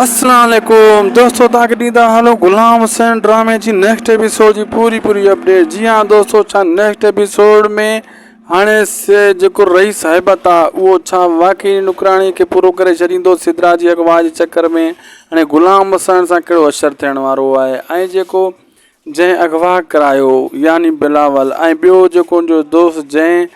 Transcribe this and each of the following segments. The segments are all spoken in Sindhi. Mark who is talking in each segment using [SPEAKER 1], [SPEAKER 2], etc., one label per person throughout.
[SPEAKER 1] السلام عليڪم دوستو توهان کي ڏيندا هلون غلام حسين ڊرامي جي نيڪسٽ ايپيسوڊ جي پوري پوري اپڊيٽ جي ها دوستو ڇا نيڪسٽ ايپيسوڊ ۾ هاڻي جيڪو رئيس هيبت آ اهو ڇا واقعي نوڪراڻي کي پورو ڪري ڇڏيندو سدرا جي اغوا جي چڪر ۾ هاڻي غلام حسين سان ڪهڙو اشر ٿيڻ وارو آهي ۽ جيڪو جنهن اغوا ڪرايو يعني بلاول ۽ ٻيو جيڪو ان جو دوست جنهن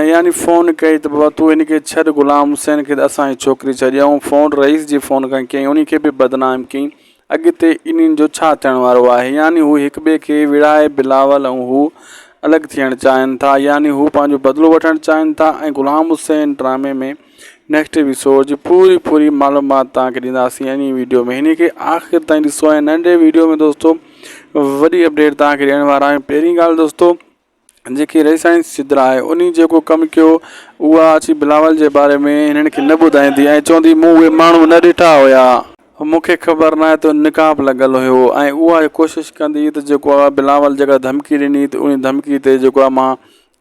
[SPEAKER 1] يعني فون ڪئي ته بابا تون ان کي ڇڏ غلام حسين کي ته اسان جي ڇوڪري ڇڏيائون فون رئيس جي فون کان ڪيائين ان کي به بدنام ڪيائين اڳتي انهن جو ڇا ٿيڻ وارو آهي يعني هو هڪ ٻئي کي وڙهائي بلاول ۽ هو الڳ ٿيڻ چاهين ٿا يعني هو پنهنجو بدلو وٺڻ چاهين ٿا ۽ غلام حسين ڊرامي ۾ نيڪسٽ ايپيسوڊ جي پوري پوري معلومات تان کي ڏينداسين اني ويڊيو ۾ هني کي آخر تائين ڏسو ۽ ننڍي ويڊيو ۾ دوستو وڏي اپڊيٽ تان کي ڏيڻ وارا آهيون پهرين ڳالهه دوستو جيڪي رئي سائنس جي درا آهي اني جيڪو ڪم ڪيو اها اچي بلاول جي باري ۾ هنن کي نه ٻڌائيندي ۽ چوندي مون اهي ماڻهو نه ڏٺا هيا مون کي خبر ناهي ته نقاب لڳل هيو ۽ اها اهي ڪوشش ڪندي ته جيڪو آهي بلاول جيڪا ڌمڪي ڏني ته اني ڌمڪي تي جيڪو آهي مان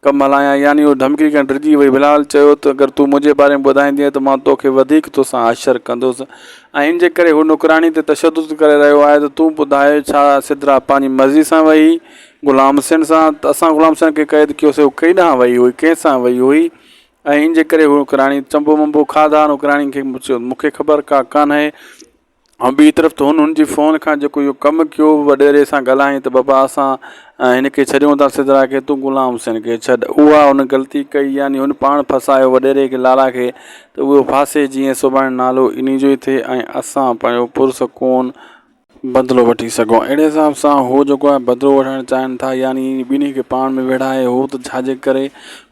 [SPEAKER 1] ڪم هلايان يعني هوء ڌمڪي کان ڊڄي وئي. بلال چيو ته اگر تون منهنجي باري ۾ ٻڌائيندينء ته مان توکي وڌيڪ توسان حشر ڪندس ۽ ان جي ڪري هو نوڪراڻي تي تشدد ڪري رهيو آهي ته تون ٻڌاء ڇا سدرا پنهنجي مرضي سان وئي هئي غلام حسين سان ته اسان غلام حسين کي قيد ڪيوسي هوء ڪيئن ڏانهن وئي هئي ڪنهن سان وئي هئي ۽ ان جي ڪري هوء نوڪراڻي چنبو منبو کاڌا نوڪراڻين کي مون کي خبر ڪا ڪانهي ۽ ٻي طرف ته هن ان جي فون کان جيڪو اهو ڪم ڪيو وڏيري سان ڳالهائين ته بابا اسان هن کي ڇڏيون ٿا سدرا کي تون غلام حسين کي ڇڏ اها هن غلطي ڪئي يعني هن پاڻ ڦاسايو وڏيري کي لالا کي ته اهو ڦاسي جيئن سڀاڻي نالو انهي جو ئي ٿئي ۽ اسان پنهنجو پرسڪون بدلو وٺي سگهون اهڙي حساب سان هو جيڪو آهي بدلو وٺڻ چاهين ٿا يعني ٻنهي کي پاڻ ۾ ويڙهائي هو ته ڇاجي ڪري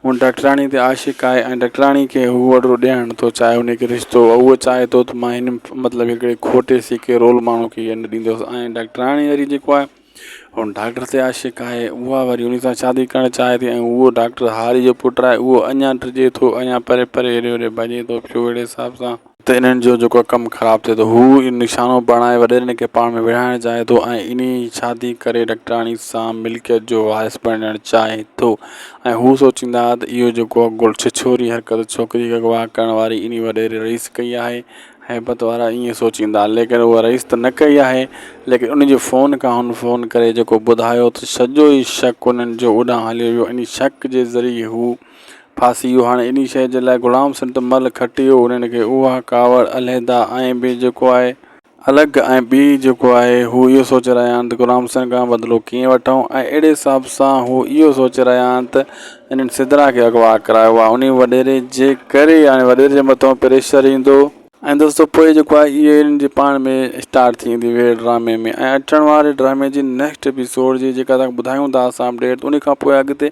[SPEAKER 1] هو ڊاڪٽراڻي تي عاشق آهي ۽ ڊاڪٽراڻي کي هو وڏڙو ڏيارڻ ٿو چاهي انهي کي رشتو ۽ هو چاهي ٿو ته مان هن مطلب هڪڙي کٽي سيڪي رول ماڻهو کي هيء نه ڏيندس ۽ ڊاڪٽراڻي وري جيڪو آهي هو ڊاڪٽر تي عاشق آهي اها وري انهي سان شادي ڪرڻ چاهي ٿي ۽ هو ڊاڪٽر هاري جو پٽ آهي اهو اڃان ڊڄي ٿو اڃان پري پري هيڏي هوڏي ڀڄي ٿو پيو اهڙي حساب سان ته انهن جو جيڪو ڪم خراب ٿئي ٿو، هو اهو نشانو بڻائي وڏيرن کي پاڻ ۾ وڙهائڻ چاهي ٿو ۽ انهي شادي ڪري ڊاڪٽراڻي سان ملڪيت جو وارث بڻجڻ چاهي ٿو ۽ هو سوچيندا ته اهو جيڪو ڇڇوري حرڪت ڇوڪري کي اغوا ڪرڻ واري انهي وڏيري رئيس ڪئي آهي، هيبت وارا ائين سوچيندا، ليڪن هو رئيس ته نه ڪئي آهي، ليڪن انهي جي فون کان هن فون ڪري جيڪو ٻڌايو ته سڄو ئي شڪ انهن جو اوڏانهن هليو ويو، انهي شڪ جي ذريعي هو. ڦاسي اهو هاڻي انهي شيء جي لاء غلام سنڌ مل کٽيو انهن کي اها ڪاوڙ علحده ۽ ٻي جيڪو آهي. الڳ ۽ ٻي جيڪو آهي هو اهو سوچي رهيا آهن ته غلام سنڌ کان بدلو ڪيئن وٺون ۽ اهڙي حساب سان هو اهو سوچي رهيا آهن ته انهن سدرا کي اغوا ڪرايو آهي انهي وڏيري جي ڪري هاڻي وڏيري جي مٿان پريشر ايندو ۽ دوستو پوء جيڪو آهي اهي انهن جي پاڻ ۾ اسٽارٽ ٿي ويندي ويڙهه ڊرامي ۾ ۽ اچڻ واري ڊرامي جي نيڪسٽ ايپيسوڊ جي جيڪا توهان کي ٻڌايون ٿا اسان اپڊيٽ انهي کان پوء اڳتي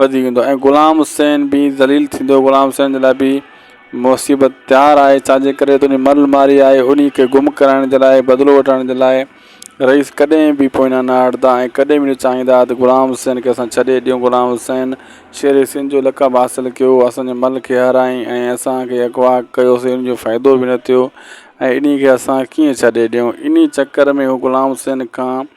[SPEAKER 1] وڌيڪ ايندو ۽ غلام حسين به ذليل ٿيندو غلام حسين جي لاء به مصيبت تيار آهي ڇا جي ڪري ته انهي مرل ماري آهي انهي کي گم ڪرائڻ جي لاء بدلو وٺڻ جي لاء رئيس ڪڏهن به پوئنا نه هٽندا ۽ ڪڏهن به نه چاهيندا ته غلام حسين کي اسان ڇڏي ڏيون غلام حسين شير سنڌ جو لقب حاصل ڪيو اسان جي مل کي هارايائين ۽ اسان کي اغوا ڪيوسي ان جو فائدو به نه ٿيو ۽ انهي کي اسان ڪيئن ڇڏي ڏيون انهي چڪر ۾ هو غلام حسين کان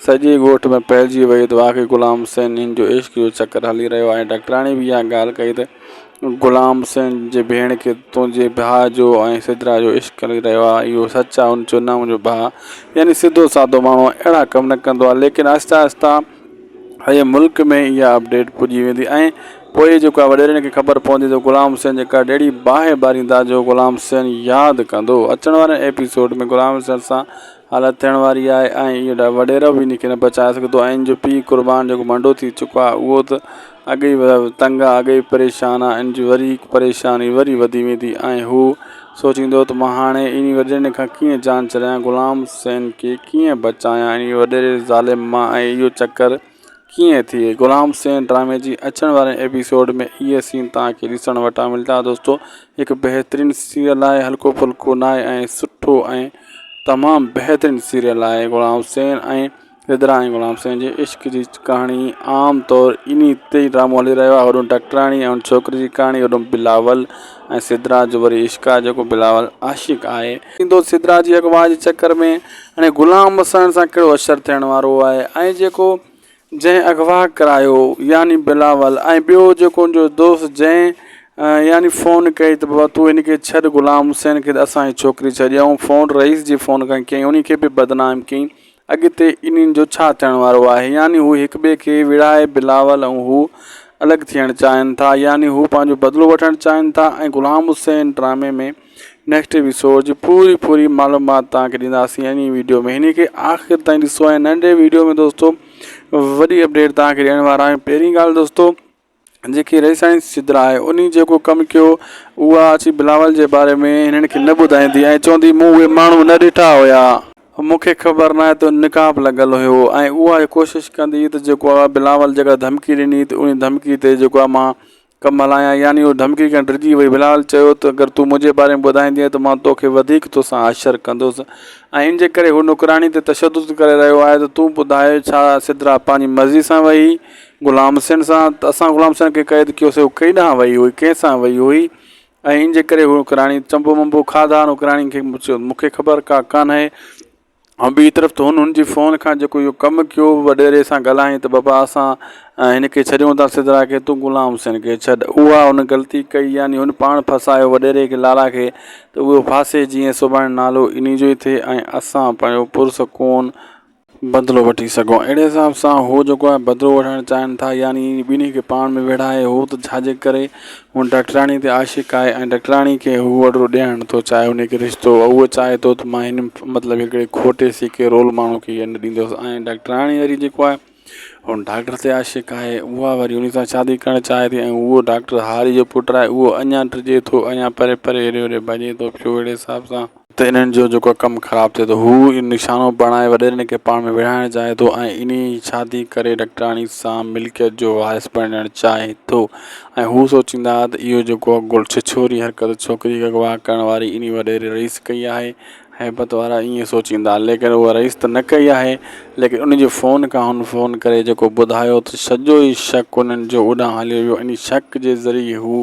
[SPEAKER 1] سڄي ڳوٺ ۾ ڦهلجي وئي ته واقعي غلام حسين هن جو عشق جو چڪر هلي رهيو آهي ڊاڪٽراڻي به اها ڳالهه ڪئي ته غلام حسين جي ڀيڻ کي تنهنجي ڀاء جو ۽ سدرا جو عشق هلي رهيو آهي اهو سچ آهي هن چيو نه منهنجو ڀاء يعني سڌو سادو ماڻهو اهڙا ڪم نه ڪندو آهي ليڪن آهستي آهستي سڄي ملڪ ۾ اها اپڊيٽ پڄي ويندي ۽ پوء جيڪو آهي وڏيرن کي خبر پوندي ته غلام حسين جي ڪهڙي اهڙي باهه ٻاريندا جو غلام حسين ياد ڪندو اچڻ واري ايپيسوڊ ۾ غلام حسين سان حالت ٿيڻ واري آهي ۽ اهو وڏيرو به ان کي نه بچائي سگهندو ۽ ان جو پيء قربان جيڪو منڊو ٿي چڪو آهي اهو ته اڳي ئي تنگ آهي اڳي ئي پريشان آهي ان جي وري هڪ پريشاني وري وڌي ويندي ۽ هو سوچيندو ته مان هاڻي انهي وڏيري کان ڪيئن جان ڇڏايان غلام حسين کي ڪيئن بچايان انهي وڏيري ظالم مان ۽ اهو چڪر ڪيئن ٿئي غلام سين ڊرامي جي اچڻ واري ايپيسوڊ ۾ اهي سين توهان کي ڏسڻ وٽان ملدا دوستو هڪ بهترين سيريل آهي هلڪو ڦلڪو ناهي ۽ سٺو ۽ تمام بهترين سيريل آهي غلام سين ۽ رڌرا ۽ غلام سين جي عشق جي ڪهاڻي عام طور انهي تي ڊرامو هلي رهيو آهي هوڏانهن ڊاڪٽراڻي ۽ ان ڇوڪري جي ڪهاڻي هوڏانهن بلاول ۽ سدرا جو وري عشق آهي جيڪو بلاول عاشق آهي. ٿيندو سدرا جي اغوا جي چڪر ۾ هاڻي غلام وسائڻ سان ڪهڙو حشر ٿيڻ وارو آهي ۽ جيڪو جنهن اغوا ڪرايو يعني بلاول ۽ ٻيو جيڪو ان جو دوست جنهن يعني فون ڪئي ته بابا تون هن کي ڇڏ غلام حسين کي ته اسان هي ڇوڪري ڇڏي آئون فون رئيس جي فون کان ڪيائين انهي کي به بدنام ڪيائين اڳتي انهن جو ڇا ٿيڻ وارو آهي؟ يعني هو هڪ ٻئي کي وڙهائي بلاول ۽ هو الڳ ٿيڻ چاهين ٿا يعني هو پنهنجو بدلو وٺڻ چاهين ٿا ۽ غلام حسين ڊرامي ۾ نيڪسٽ ايپيسوڊ جي پوري پوري معلومات توهان کي ڏينداسين انهي ويڊيو ۾ انهي کي آخر تائين ڏسو ۽ ننڍي ويڊيو ۾ دوستو وڏي اپڊيٽ توهان کي ڏيڻ وارا آهيون پهرين ڳالهه دوستو جيڪي رئي سائنس سدرا آهي انهي جيڪو ڪم ڪيو اها اچي بلاول جي باري ۾ هنن کي نه ٻڌائيندي ۽ چوندي مون اهي ماڻهو نه ڏٺا هيا مون کي خبر ناهي ته نقاب لڳل هيو ۽ اها ڪوشش ڪندي ته جيڪو آهي بلاول جيڪا ڌمڪي ڏني ته انهي ڌمڪي تي جيڪو آهي مان ڪم هلايان يعني اها ڌمڪي کان ڊڄي وئي بلاول چيو ته اگر تون منهنجي باري ۾ ٻڌائيندي ته مان توکي وڌيڪ توسان حشر ڪندس ۽ ان جي ڪري هو نوڪرياڻي تي تشدد ڪري رهيو آهي ته تون ٻڌاء ڇا سدرا پنهنجي مرضي سان وئي غلام حسين سان ته اسان غلام حسين کي قيد ڪيوسي هو ڪيڏانهن وئي هئي ڪنهن سان وئي هئي ۽ ان جي ڪري هو ڪراڻي چنبو منبو کاڌا هن ڪراڻين کي چيو مونکي خبر ڪا ڪانهي ۽ ٻي طرف ته هن هن جي فون کان جيڪو اهو ڪم ڪيو وڏيري سان ڳالهائين ته بابا اسان هن کي ڇڏيون ٿا سدرا کي تون غلام حسين کي ڇڏ اها هن غلطي ڪئي يعني هن پاڻ ڦاسايو وڏيري کي لارا کي ته اهو ڦاسي جيئن سڀاڻي نالو انهي جو ئي ٿئي ۽ اسان پنهنجو پرسڪون بدلو وٺي سگهون. اهڙي حساب سان هو جيڪو آهي بدلو وٺڻ چاهين ٿا يعني ٻنهي کي پاڻ ۾ ويڙهائي هو ته ڇاجي ڪري هو ڊاڪٽرياڻي تي عاشق آهي ۽ ڊاڪٽرياڻي کي هو وڏڙو ڏيڻ نٿو چاهي انهي کي رشتو هو چاهي ٿو ته مان هن مطلب هڪڙي کوٽي سيڪي رول ماڻهو کي هيء نه ڏيندس ۽ ڊاڪٽرياڻي وري جيڪو آهي هو ڊاڪٽر تي عاشق آهي اها وري انهي سان شادي ڪرڻ چاهي ٿي ۽ اهو ڊاڪٽر هاري جو پٽ آهي اهو اڃان ڊڄي ٿو اڃان پري پري هيڏي هوڏي ڀڄي ٿو پيو اهڙي حساب سان ته انهن جو جيڪو ڪم خراب ٿئي ٿو، هو اهو نشانو بڻائي وڏيرن کي پاڻ ۾ وڙهائڻ چاهي ٿو ۽ انهيء شادي ڪري ڊاڪٽراڻي سان ملڪيت جو وارث بڻجڻ چاهي ٿو ۽ هو سوچيندا ته اهو جيڪو اڳوڻي ڇڇوري حرڪت ڇوڪريء کي اغوا ڪرڻ واري انهيء وڏيري رئيس ڪئي آهي. هيبت وارا ائين سوچيندا، ليڪن اهو رئيس ته نه ڪئي آهي، ليڪن انهيء جي فون کان هن فون ڪري جيڪو ٻڌايو ته سڄو ئي شڪ انهن جو اوڏانهن هليو ويو، انهيء شڪ جي ذريعي هو.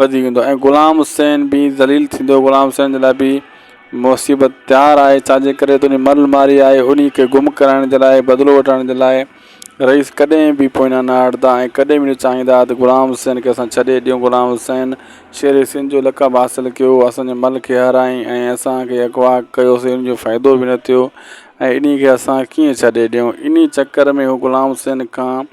[SPEAKER 1] وڌيڪ ايندو ۽ غلام حسين به ذليل ٿيندو غلام حسين جي لاء به مصيبت تيار آهي ڇا جي ڪري تنهنجي مرل ماري آهي انهي کي گم ڪرائڻ جي لاء بدلو وٺرائڻ جي لاء رئيس ڪڏهن به پوئنا نه هٽندا ۽ ڪڏهن به نه چاهيندا ته غلام حسين کي اسان ڇڏي ڏيون غلام حسين شير سنڌ جو لقب حاصل ڪيو اسان جي مرل کي هارايائين ۽ اسان کي اغوا ڪيوسي ان جو فائدو به نه ٿيو ۽ انهي کي اسان ڪيئن ڇڏي ڏيون انهي چڪر ۾ هو غلام حسين کان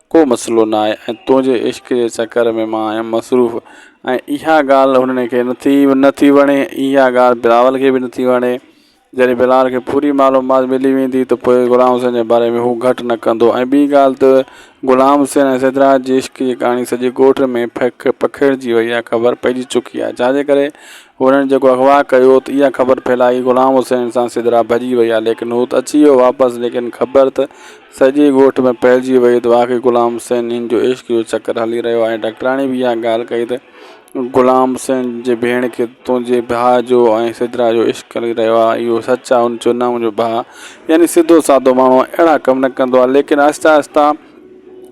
[SPEAKER 1] ڪو مسئلو نه آهي ۽ تنهنجي عشق جي چڪر ۾ مان آهيان مصروف ۽ اها ڳالهه هنن کي نٿي نٿي وڻي اها ڳالهه بلاول کي به نٿي وڻي جڏهن بلاول کي پوري معلومات ملي ويندي ته پوء غلام حسين جي باري ۾ هو گهٽ نه ڪندو ۽ ٻي ڳالهه ته غلام حسين ۽ سڌراج جي عشق جي ڪهاڻي سڄي ڳوٺ ۾ پکڙجي وئي آهي خبر پئجي چڪي آهي جانجي ڪري هنن جيڪو اغوا ڪيو هوت اها خبر ڦهلائي غلام حسين سان سدرا ڀڄي ويا ليڪن هوت اچي ويو واپس ليڪن خبر ته سڄي ڳوٺ ۾ ڦهلجي وئي ته واقعي غلام حسين هن جو عشق جو چڪر هلي رهيو آهي ڊاڪٽراڻي به اها ڳالهه ڪئي ته غلام حسين جي ڀيڻ کي تنهنجي ڀاء جو ۽ سدرا جو عشق هلي رهيو آهي اهو سچ آهي هن چيو نه منهنجو ڀاء يعني سڌو سادو ماڻهو اهڙا ڪم نه ڪندو آهي ليڪن آهستي آهستي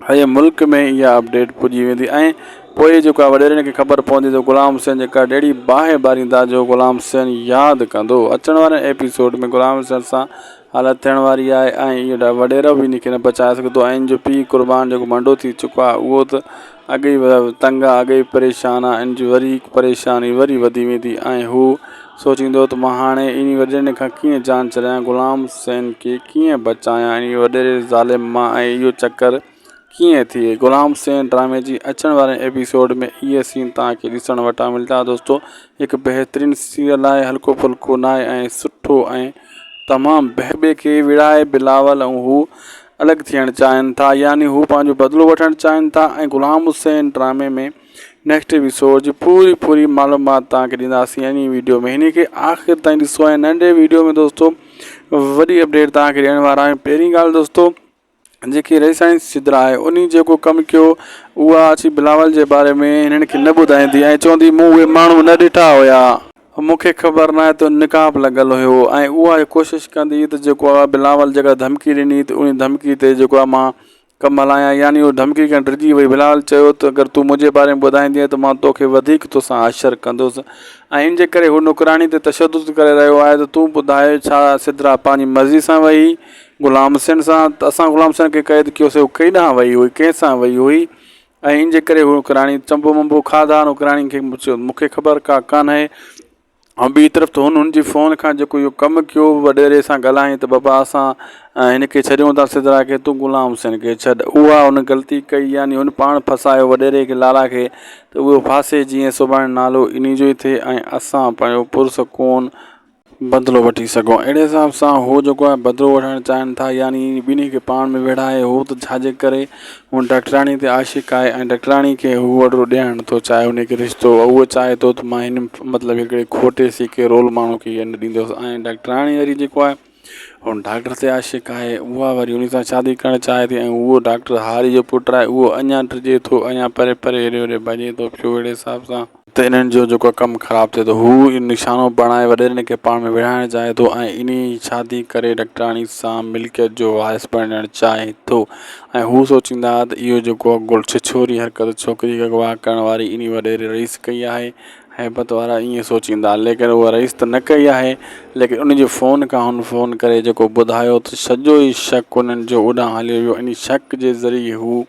[SPEAKER 1] هيء ملڪ ۾ اها اپڊيٽ پڄي ويندي ۽ پوء جيڪو آهي وڏيرن کي خبر پوندي ته غلام حسين جي ڪا ڊيڙهي باهه ٻاريندا جو غلام حسين ياد ڪندو. اچڻ وارين ايپيسوڊ ۾ غلام حسين سان حالت ٿيڻ واري آهي ۽ اهو وڏيرو به ان کي نه بچائي سگهندو ۽ ان جو پيء قربان جيڪو منڊو ٿي چڪو آهي اهو ته اڳ ئي تنگ آ اڳ ئي پريشان آ ان جي وري پريشاني وري وڌي ويندي ۽ هو سوچيندو ته مان هاڻي انهي وڏيري کان ڪيئن جان ڇڏايان غلام حسين کي ڪيئن بچايان انهي وڏيري ظالم مان ۽ اهو چڪر ڪيئن ٿئي غلام حسين ڊرامي جي اچڻ واري ايپيسوڊ ۾ اهي سين توهان کي ڏسڻ وٽان ملدا دوستو هڪ بهترين سيريل آهي هلڪو ڦلڪو ناهي ۽ سٺو ۽ تمام بهبه کي وڙهائي بلاول ۽ هو الڳ ٿيڻ چاهين ٿا يعني هو پنهنجو بدلو وٺڻ چاهين ٿا ۽ غلام حسين ڊرامي ۾ نيڪسٽ ايپيسوڊ جي پوري پوري معلومات توهان کي ڏينداسين انهي ويڊيو ۾ انهي کي آخر تائين ڏسو ۽ ننڍي ويڊيو ۾ دوستو وڏي اپڊيٽ توهان کي ڏيڻ وارا آهيون پهرين ڳالهه دوستو جيڪي ريسائنس سدرا آهي انهي جيڪو ڪم ڪيو اها اچي بلاول جي باري ۾ هنن کي نه ٻڌائيندي ۽ چوندي مون اهي ماڻهو نه ڏٺا هيا. مون کي خبر ناهي ته نقاب لڳل هيو ۽ اها هي ڪوشش ڪندي هئي ته جيڪو آ بلاول جيڪا ڌمڪي ڏني ته انهي ڌمڪي تي جيڪو آ مان ڪم هلايان يعني اهو ڌمڪي کڻي ڊڄي وئي بلاول چيو ته اگر تون منهنجي باري ۾ ٻڌائيندينء ته مان توکي وڌيڪ توسان حشر ڪندس ۽ ان جي ڪري هو نوڪراڻي تي تشدد ڪري رهيو آهي ته تون ٻڌاء ڇا سدرا پنهنجي مرضي سان وئي هئي غلام حسين سان ته اسان غلام حسين کي قيد ڪيوسي هو ڪيڏانهن وئي هئي ڪنهن سان وئي هئي ۽ ان جي ڪري هو اوڪراڻي چنبو منبو کاڌا ان اوڪراڻين کي مون کي خبر ڪا ڪانه آهي ۽ ٻي طرف ته هن ان جي فون کان جيڪو اهو ڪم ڪيو وڏيري سان ڳالهائين ته بابا اسان هن کي ڇڏيون ٿا سدرا کي تون غلام حسين کي ڇڏ اها هن ڳلتي ڪئي يعني هن پاڻ ڦاسايو وڏيري کي لالا کي ته اهو ڦاسي جيئن سڀاڻي نالو ان جو ئي ٿئي ۽ اسان پنهنجو پرسڪون بدلو وٺي سگهون. اهڙي حساب سان هو جيڪو آهي بدلو وٺڻ چاهين ٿا يعني ٻنهي کي پاڻ ۾ ويڙهائي هو ته ڇاجي ڪري هو ڊاڪٽرياڻي تي عاشق آهي ۽ ڊاڪٽرياڻي کي هو وڏڙو ڏيڻ نٿو چاهي انهي کي رشتو هو چاهي ٿو ته مان هن مطلب هڪڙي کوٽي سيڪي رول ماڻهو کي هيء نه ڏيندس ۽ ڊاڪٽرياڻي وري جيڪو آهي هو ڊاڪٽر تي عاشق آهي اها وري انهي سان شادي ڪرڻ چاهي ٿي ۽ هو ڊاڪٽر هاري جو پٽ آهي اهو اڃان ڊڄي ٿو اڃان پري پري هيڏي هوڏي ڀڄي ٿو پيو اهڙي حساب سان ته انهن جو جيڪو ڪم خراب ٿئي ٿو، هو اهو نشانو بڻائي وڏيرن کي پاڻ ۾ وڙهائڻ چاهي ٿو ۽ انهي شادي ڪري ڊاڪٽراڻي سان ملڪيت جو وارث بڻجڻ چاهي ٿو ۽ هو سوچيندا ته اهو جيڪو ڇڇوري حرڪت ڇوڪري کي اغوا ڪرڻ واري انهي وڏيري رئيس ڪئي آهي، هيبت وارا ائين سوچيندا، ليڪن اها رئيس ته نه ڪئي آهي، ليڪن انهي جي فون کان هن فون ڪري جيڪو ٻڌايو ته سڄو ئي شڪ انهن جو اوڏانهن هليو ويو، انهي شڪ جي ذريعي هو.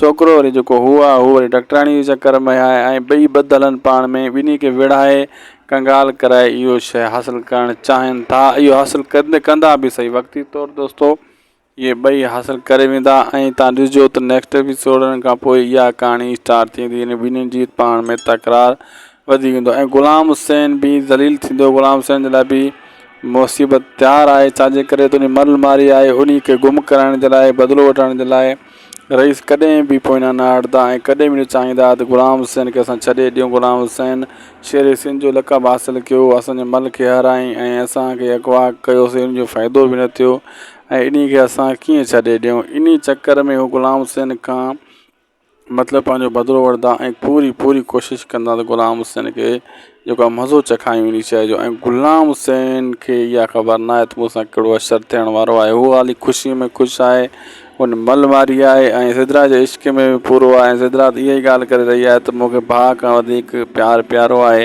[SPEAKER 1] ڇوڪرو وري جيڪو هو آ، هو وري ڊاڪٽراڻيء جي چڪر ۾ آهي ۽ ٻئي ٻڌ هلن پاڻ ۾، ٻنهي کي ويڙهائي، ڪنگال ڪرائي اهو شيء حاصل ڪرڻ چاهين ٿا. اهو حاصل ڪندي ڪندا به سهي، وقتي طور دوستو، اهي ٻئي حاصل ڪري ويندا ۽ توهان ڏسجو ته نيڪسٽ ايپيسوڊ کان پوء اها ڪهاڻي اسٽارٽ ٿيندي يعني ٻنهين جي پاڻ ۾ تڪرار وڌي ويندو ۽ غلام حسين به ذليل ٿيندو. غلام حسين جي لاء به مصيبت تيار آهي، ڇا جي ڪري ته انهي مرل ماري آهي، انهي کي گم ڪرائڻ جي لاء، بدلو وٺڻ جي لاء. رئيس ڪڏهن به پوئينا نه هٽندا ۽ ڪڏهن به نه چاهيندا ته غلام حسين کي اسان ڇڏي ڏيون. غلام حسين شير سنڌ جو لقب حاصل ڪيو، اسان جي مل کي هارايائين ۽ اسان کي اغوا ڪيوسين، ان جو فائدو به نه ٿيو ۽ انهي کي اسان ڪيئن ڇڏي ڏيون. انهي چڪر ۾ هو غلام حسين کان مطلب پنهنجو بدلو وٺندا ۽ پوري پوري ڪوشش ڪندا ته غلام حسين کي جيڪا مزو چکايون انهي شيء جو ۽ غلام حسين کي اها خبر ناهي ته مون سان ڪهڙو اشر ٿيڻ وارو آهي. هو هالي خوشيء ۾ خوش آهي. هن مل ماري آهي ۽ سدرا جي عشق ۾ به پورو آهي ۽ سدرا ته اها ئي ڳالهه ڪري رهي آهي ته مون کي ڀاء کان وڌيڪ پيار پيارو آهي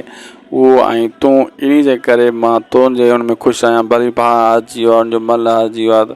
[SPEAKER 1] اهو آهين تون انهي جي ڪري مان تنهنجي ان ۾ خوش آهيان ڀلي ڀاء هارجي ويو آهي هن جو مل هارجي ويو آهي ته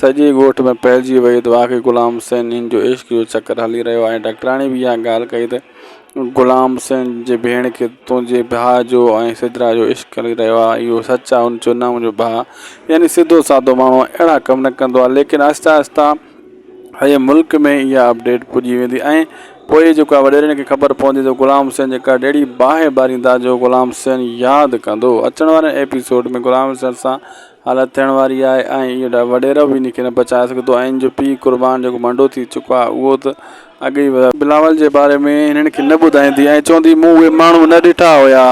[SPEAKER 1] سڄي ڳوٺ ۾ ڦهلجي وئي ته واقعي غلام حسين هن جو عشق جو چڪر هلي رهيو آهي. ڊاڪٽراڻي به اها ڳالهه ڪئي ته غلام حسين جي ڀيڻ کي تنهنجي ڀاء جو ۽ سدرا جو عشق هلي رهيو آهي. اهو سچ آهي. هن چيو نه منهنجو ڀاء يعني سڌو سادو ماڻهو اهڙا ڪم نه ڪندو آهي. ليڪن آهستي آهستي سڄي ملڪ ۾ اها اپ ڊيٽ پڄي ويندي ۽ پوء جيڪو آهي وڏيرن کي خبر پوندي ته غلام حسين جي ڪرڙ اهڙي باهه ٻاريندا جو غلام حسين ياد ڪندو. اچڻ واري ايپي سوڊ ۾ غلام حسين سان حالت ٿيڻ واري آهي ۽ اهو وڏيرو به ان کي نه بچائي سگهندو ۽ ان جو پيء قربان جيڪو منڊو ٿي چڪو آهي اهو ته اڳ ئي بلاول جي باري ۾ هنن کي نه ٻڌائيندي ۽ چوندي مون اهي ماڻهو نه ڏٺا هيا،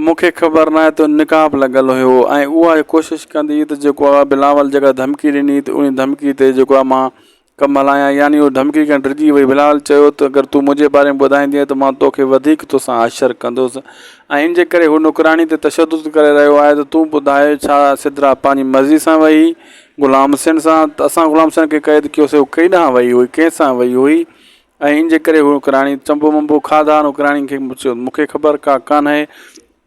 [SPEAKER 1] مون کي خبر ناهي ته نقاب لڳل هيو ۽ اها ڪوشش ڪندي ته جيڪو آهي بلاول جيڪا ڌمڪي ڏني ته ان ڌمڪي تي جيڪو آهي مان ڪم هلايان يعني هوء ڌمڪي کان ڊڄي وئي. بلال چيو ته اگر تون منهنجي باري ۾ ٻڌائيندينء ته مان توکي وڌيڪ توسان حشر ڪندس ۽ ان جي ڪري هو نوڪراڻي تي تشدد ڪري رهيو آهي ته تون ٻڌاء ڇا سدرا پنهنجي مرضي سان ويئي غلام حسين سان ته اسان غلام حسين کي قيد ڪيوسين هوء ڪيئن ڏانهن وئي هئي ڪنهن سان وئي هئي ۽ ان جي ڪري هوء نوڪراڻي چنبو منبو کاڌا نوڪراڻين کي مون کي خبر ڪا ڪانهي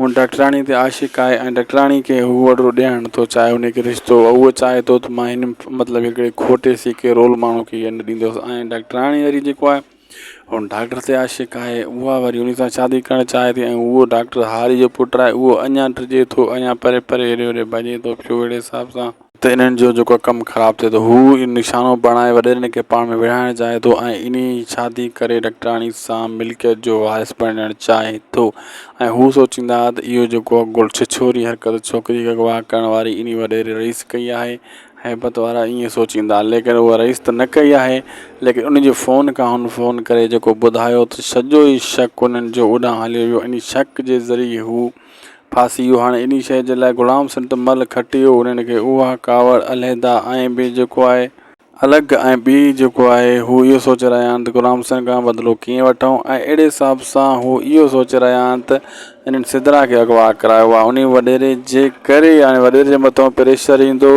[SPEAKER 1] هو ڊاڪٽراڻي تي عاشق آهي ۽ ڊاڪٽراڻي کي هو وڏڙو ڏيارڻ ٿو چاهي انهي کي رشتو هو چاهي ٿو ته مان هن مطلب هڪڙي کٽي سيڪي رول ماڻهو کي هيء نه ڏيندوس ۽ ڊاڪٽراڻي وري جيڪو آهي هو ڊاڪٽر تي عاشق آهي اها وري انهي سان شادي ڪرڻ چاهي ٿي ۽ هو ڊاڪٽر هاري جو پٽ آهي اهو اڃان ڊڄي ٿو اڃان پري پري هيڏي هوڏي ڀڄي ٿو پيو اهڙي حساب سان ته انهن جو جيڪو ڪم خراب ٿئي ٿو، هو اهو نشانو بڻائي وڏيرن کي پاڻ ۾ وڙهائڻ چاهي ٿو ۽ انهي شادي ڪري ڊاڪٽراڻي سان ملڪيت جو وارث بڻجڻ چاهي ٿو ۽ هو سوچيندا ته اهو جيڪو ڇڇوري حرڪت ڇوڪري کي اغوا ڪرڻ واري انهي وڏيري رئيس ڪئي آهي، هيبت وارا ائين سوچيندا، ليڪن اها رئيس ته نه ڪئي آهي، ليڪن انهي جي فون کان هن فون ڪري جيڪو ٻڌايو ته سڄو ئي شڪ انهن جو اوڏانهن هليو ويو، انهي شڪ جي ذريعي هو. ڦاسي اهو هاڻي انهي شيء جي لاء غلام سنت مل کٽيو انهن کي اها ڪاوڙ علحده ۽ ٻي جيڪو آهي. الڳ ۽ ٻي جيڪو آهي هو اهو سوچي رهيا آهن ته غلام سنت کان بدلو ڪيئن وٺون ۽ اهڙي حساب سان هو اهو سوچي رهيا آهن ته انهن سدرا کي اغوا ڪرايو آهي انهي وڏيري جي ڪري هاڻي وڏيري جي مٿان پريشر ايندو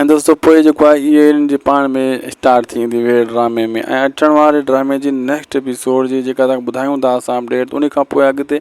[SPEAKER 1] ۽ دوستو پوء جيڪو آهي اهي انهن جي پاڻ ۾ اسٽارٽ ٿي ويندي ويڙهه ڊرامي ۾ ۽ اچڻ واري ڊرامي جي نيڪسٽ ايپيسوڊ جي جيڪا توهان کي ٻڌايون ٿا اسان اپڊيٽ انهي کان پوء اڳتي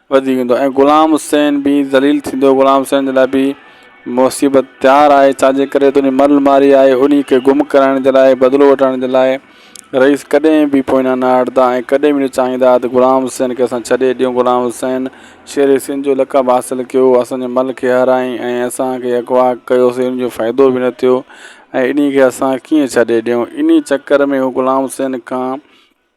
[SPEAKER 1] وڌيڪ ايندو ۽ غلام حسين به ذليل ٿيندو غلام حسين جي لاء به مصيبت تيار آهي ڇا جي ڪري ته انهي مرل ماري آهي انهي کي گم ڪرائڻ جي لاء بدلو وٺرائڻ جي لاء رئيس ڪڏهن به پوئنا نه هٽدا ۽ ڪڏهن به نه چاهيندا ته غلام حسين کي اسان ڇڏي ڏيون غلام حسين شير سنڌ جو لقب حاصل ڪيو اسان جي مل کي هارايائين ۽ اسان کي اغوا ڪيوسي ان جو فائدو به نه ٿيو ۽ انهي کي اسان ڪيئن ڇڏي ڏيون انهي چڪر ۾ هو غلام حسين کان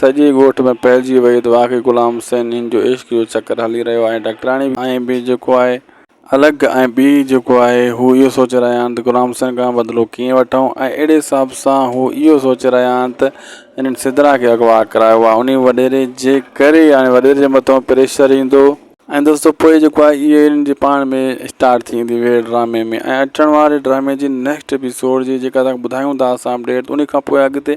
[SPEAKER 1] سڄي ڳوٺ ۾ ڦهلجي وئي ته واقعي غلام حسين هن جو عشق جو چڪر هلي رهيو آهي ڊاڪٽراڻي ۽ به جيڪو آهي الڳ ۽ ٻي جيڪو آهي هو اهو سوچي رهيا آهن ته غلام حسين کان بدلو ڪيئن وٺون ۽ اهڙي حساب سان هو اهو سوچي رهيا آهن ته هنن سدرا کي اغوا ڪرايو آهي انهي وڏيري جي ڪري يعني وڏيري جي مٿان پريشر ايندو ۽ دوستو پوء جيڪو آهي اهي هنن جي پاڻ ۾ اسٽارٽ ٿي ويندي ويڙهه ڊرامي ۾ ۽ اچڻ واري ڊرامي جي نيڪسٽ ايپيسوڊ جي جيڪا توهان کي ٻڌايون ٿا اسان اپڊيٽ انهي کان پوء اڳتي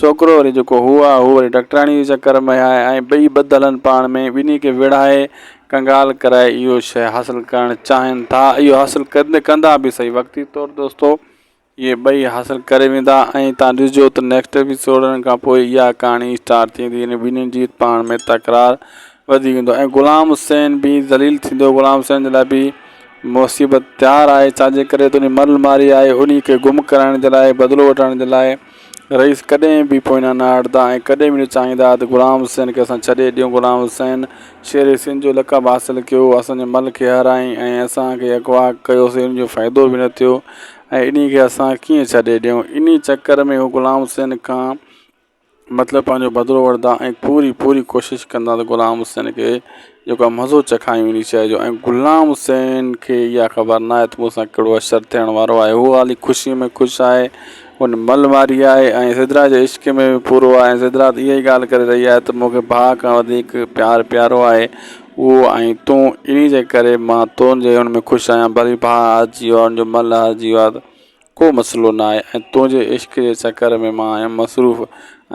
[SPEAKER 1] ڇوڪرو وري جيڪو هو آ، هو وري ڊاڪٽراڻيء جي چڪر ۾ آهي ۽ ٻئي ٻڌ هلن پاڻ ۾، ٻنهي کي ويڙهائي، ڪنگال ڪرائي اهو شيء حاصل ڪرڻ چاهين ٿا. اهو حاصل ڪندي ڪندا به سهي وقتي طور دوستو، اهي ٻئي حاصل ڪري ويندا ۽ تان ڏسجو ته نيڪسٽ ايپيسوڊن کان پوء اها ڪهاڻي اسٽارٽ ٿيندي يعني ٻنهين جي پاڻ ۾ تڪرار وڌي ويندو ۽ غلام حسين به ذليل ٿيندو. غلام حسين جي لاء به مصيبت تيار آهي ڇا جي ڪري ته انهي مرل ماري آهي انهي کي گم ڪرائڻ جي لاء بدلو وٺڻ جي لاء. رئيس ڪڏهن به پوئيان نه هٽندا ۽ ڪڏهن به نه چاهيندا ته غلام حسين کي اسان ڇڏي ڏيون. غلام حسين شير سنڌ جو لقب حاصل ڪيو، اسان جي مل کي هارايائين ۽ اسان کي اغوا ڪيوسين، ان جو فائدو به نه ٿيو ۽ انهي کي اسان ڪيئن ڇڏي ڏيون. انهي چڪر ۾ هو غلام حسين کان مطلب پنهنجو بدلو وٺندا ۽ پوري پوري ڪوشش ڪندا ته غلام حسين کي جيڪا مزو چکايون انهي شيء جو ۽ غلام حسين کي اها خبر ناهي ته مون سان ڪهڙو اشر ٿيڻ وارو آهي. هو هالي خوشيء ۾ خوش آهي. هو هن مئل ماري آهي ۽ سدرا جي عشق ۾ به پورو آهي ۽ سدرا ته اها ئي ڳالهه ڪري رهي آهي ته مون کي ڀاء کان وڌيڪ پيار پيارو آهي اهو آهين تون انهي جي ڪري مان تنهنجي ان ۾ خوش آهيان ڀلي ڀاء هارجي ويو آهي ان جو مئل هارجي ويو آهي ته ڪو مسئلو نه آهي ۽ تنهنجي عشق جي چڪر ۾ مان آهيان مصروف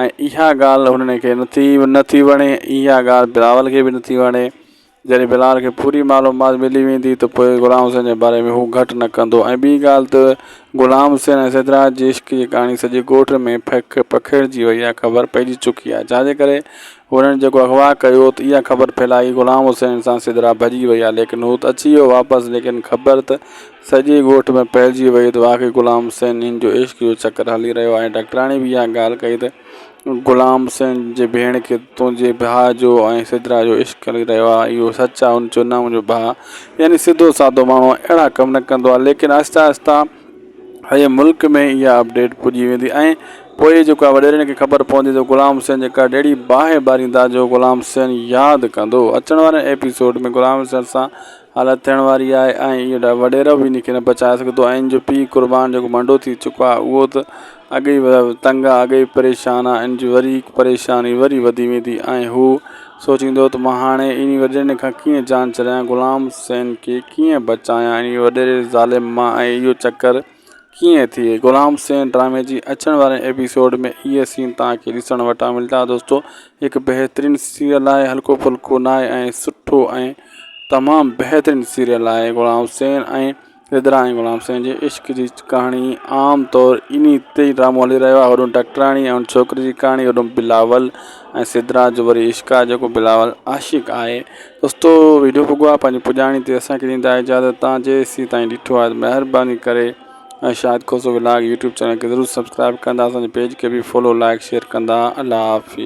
[SPEAKER 1] ۽ اها ڳالهه هنن کي نٿي نٿي وڻي اها ڳالهه بلاول کي به نٿي وڻي جڏهن بلاول کي پوري معلومات ملي ويندي ته پوء غلام حسين جي باري ۾ هو گهٽ نه ڪندو ۽ ٻي ڳالهه ته غلام حسين ۽ سيدراج جي عشق جي ڪهاڻي سڄي ڳوٺ ۾ پکيڙجي وئي آهي خبر پئجي چڪي آهي ڇا جي ڪري هنن جيڪو اغوا ڪيو ته اها خبر ڦهلائي غلام حسين سان سيدرا ڀڄي وئي آهي ليڪن هو ته اچي ويو واپس ليڪن خبر ته سڄي ڳوٺ ۾ ڦهلجي وئي ته واقعي غلام حسين هن جو عشق جو چڪر هلي رهيو آهي ڊاڪٽرياڻي به اها ڳالهه ڪئي ته غلام حسين جي ڀيڻ کي تنهنجي ڀاء جو ۽ سدرا جو عشق هلي رهيو آهي اهو سچ آهي هن چيو نه منهنجو ڀاء يعني سڌو سادو ماڻهو اهڙا ڪم نه ڪندو آهي ليڪن آهستي آهستي سڄي ملڪ ۾ اها اپڊيٽ پڄي ويندي ۽ پوء جيڪو آهي وڏيرن کي خبر پوندي ته غلام حسين جي ڪهڙي اهڙي باهه ٻاريندا جو غلام حسين ياد ڪندو اچڻ واري ايپيسوڊ ۾ غلام حسين سان حالت ٿيڻ واري آهي ۽ اهو وڏيرو به ان کي نه بچائي سگهندو آئين جو پيء قربان جيڪو منڊو ٿي چڪو آهي اهو ته اڳ ئي تنگ آهي اڳ ئي پريشان آهي ان جي وري هڪ پريشاني وري وڌي ويندي ۽ هو سوچيندو ته مان هاڻي انهي وڏيري کان ڪيئن جان ڇڏايان غلام حسين کي ڪيئن بچايان انهي وڏيري ظالم مان ۽ اهو چڪر ڪيئن ٿئي غلام سين ڊرامي جي اچڻ واري ايپيسوڊ ۾ اهي سين توهان کي ڏسڻ وٽان ملدا دوستو هڪ بهترين سيريل آهي هلڪو ڦلڪو نه آهي ۽ سٺو ۽ تمام بهترين سيريل آهي غلام سين ۽ رڌرا ۽ غلام سين جي عشق جي ڪهاڻي عام طور اني تي ڊرامو هلي رهيو آهي هوڏون ڊاڪٽراڻي ۽ ان ڇوڪري جي ڪهاڻي هوڏون بلاول ۽ سدرا جو وري عشق آهي جيڪو بلاول عاشق آهي دوستو ويڊيو پڳو آ پنهنجي پڄاڻي تي اسان کي ڏيندا اجازت تان جي سي تائين ڏٺو آ مهرباني ڪري ۽ Shahid Khoso vlog YouTube channel کي ضرور سبسڪرائب ڪندا اسان جي پيج کي به فالو لائڪ شيئر ڪندا الله حافظ